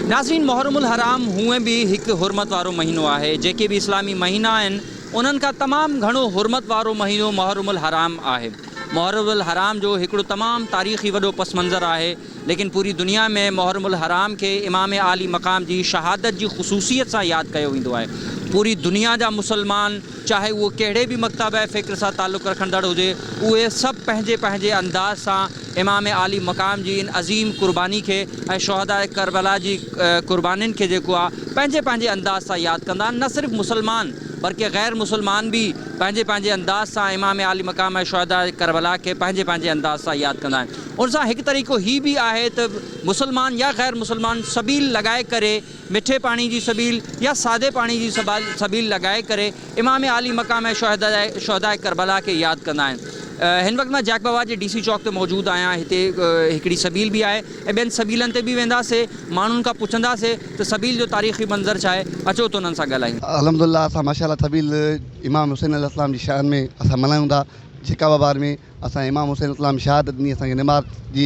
ناظرين محرم الحرام هونئن به هڪ حرمت وارو مهينو آهي جيڪي به اسلامي مهينا آهن انهن کان تمام گهڻو حرمت وارو مهينو محرم الحرام آهي محرم الحرام جو هڪڙو تمام تاريخي وڏو پس منظر آهي ليڪن پوري دنيا ۾ محرم الحرام کي امام عالي مقام جي شهادت جي خصوصيت سان ياد ڪيو ويندو آهي پوري دنيا جا مسلمان چاهي اهو ڪهڙي به مڪتابه فڪر سان تعلق رکندڙ هجي اهي سڀ پنهنجي پنهنجي انداز سان امام عالي مقام جي ان عظيم قرباني کي ۽ شهداء ڪربلا جي قربانين کي جيڪو آ پنهنجي پنهنجي انداز سان ياد ڪندا آهن نه صرف مسلمان برڪه غير مسلمان به پنهنجي پنهنجي انداز سان امام عالي مقام ۽ شهداء ڪربلا کي پنهنجي پنهنجي انداز سان ياد ڪندا آهن ان سان هڪ طريقو هي به آهي ته مسلمان يا غير مسلمان سبيل لڳائي ڪري مٺي پاڻي جي سبيل يا سادي پاڻي جي سبيل لڳائي ڪري امام عالي مقام ۽ شهداء ڪربلا کي ياد ڪندا آهن. هن وقت مان جاک بابا جي ڊي سي چوڪ تي موجود آهيان هتي هڪڙي سبيل به آهي ۽ ٻين سبيلن تي به وينداسي ماڻهن کان پڇنداسي ته سبيل جو تاريخي منظر ڇا آهي اچو ته انهن سان ڳالهايون. الحمدلله اسان ماشاءالله سبيل امام حسين عليه السلام جي شان ۾ اسان ملهايون ٿا جيڪاب آباد ۾ اسان جي امام حسين اسلام شهادت ڏني اسان کي نماز جي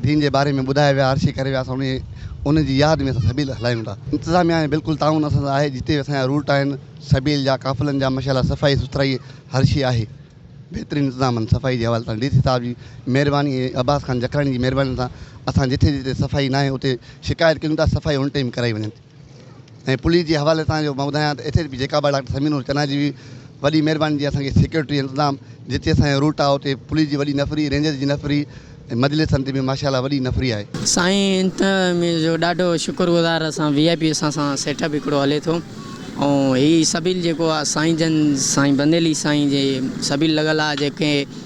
دين جي باري ۾ ٻڌايو ويا عرشي ڪري ويا اسان انهي انهن جي ياد ۾ اسان سبيل هلايون ٿا انتظاميا ۾ بلڪل تعاون اسان سان آهي جتي به اسان جا روٽ آهن سبيل جا قافلن جا ماشاء الله صفائي سٿرائي هر شي آهي بهترين انتظامن صفائي جي حوالي سان ڊي سي صاحب جي مهرباني ۽ عباس خان جکراڻي جي مهرباني سان اسان جتي جتي صفائي ناهي اتي شڪايت ڪيون ٿا صفائي ان ٽائيم ڪرائي وڃن ٿي. ۽ پوليس جي حوالي سان جو مان ٻڌايان ته اتي به جيڪب آ ڊاڪٽر سميع نور چنا جي وڏي مهرباني جي اسان کي سيڪيورٽي انتظام جتي اسان جو روٽ آ اتي پوليس جي وڏي نفري رينجرز جي نفري ۽ مجلس سنڌ ۾ ماشاء الله وڏي نفري آهي. سائين انتظاميه جو ڏاڍو شڪر گذار اسان وي آء پي اسان سان سيٽ اپ هڪڙو هلي ٿو ۽ هي سبيل جيڪو آ سائين جن سائين بنديلي سائين جي سبيل لڳل آ جيڪي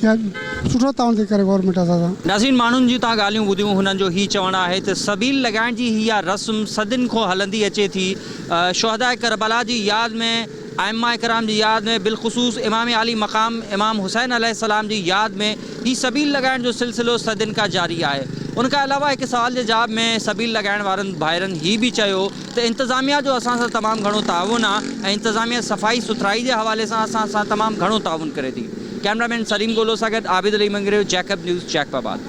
سٺو تعاون ٿي ڪري گورنمينٽ اسان سان. نازين ماڻهن جون تان ڳالهيون ٻڌيون هنن جو هي چوڻ آهي ته سبيل لڳائڻ جي هي اها رسم صدين کون هلندي اچي ٿي شهداء ڪربلا جي ياد ۾ ائمه ڪرام جي ياد ۾ بالخصوص امام عالي مقام امام حسين عليه السلام جي ياد ۾ هي سبيل لڳائڻ جو سلسلو صدين کان جاري آهي ان کان علاوه هڪ سوال جي جواب ۾ سبيل لڳائڻ وارن ڀائرن هي به چيو ته انتظاميا جو اسان سان تمام گهڻو تعاون آ ۽ انتظاميا صفائي سٿرائي جي حوالي سان اسان سان تمام گهڻو تعاون ڪري ٿي ڪيمرا مين سليم گولو سان گڏ Abid Ali Mangrio Jacob news Jacob آباد.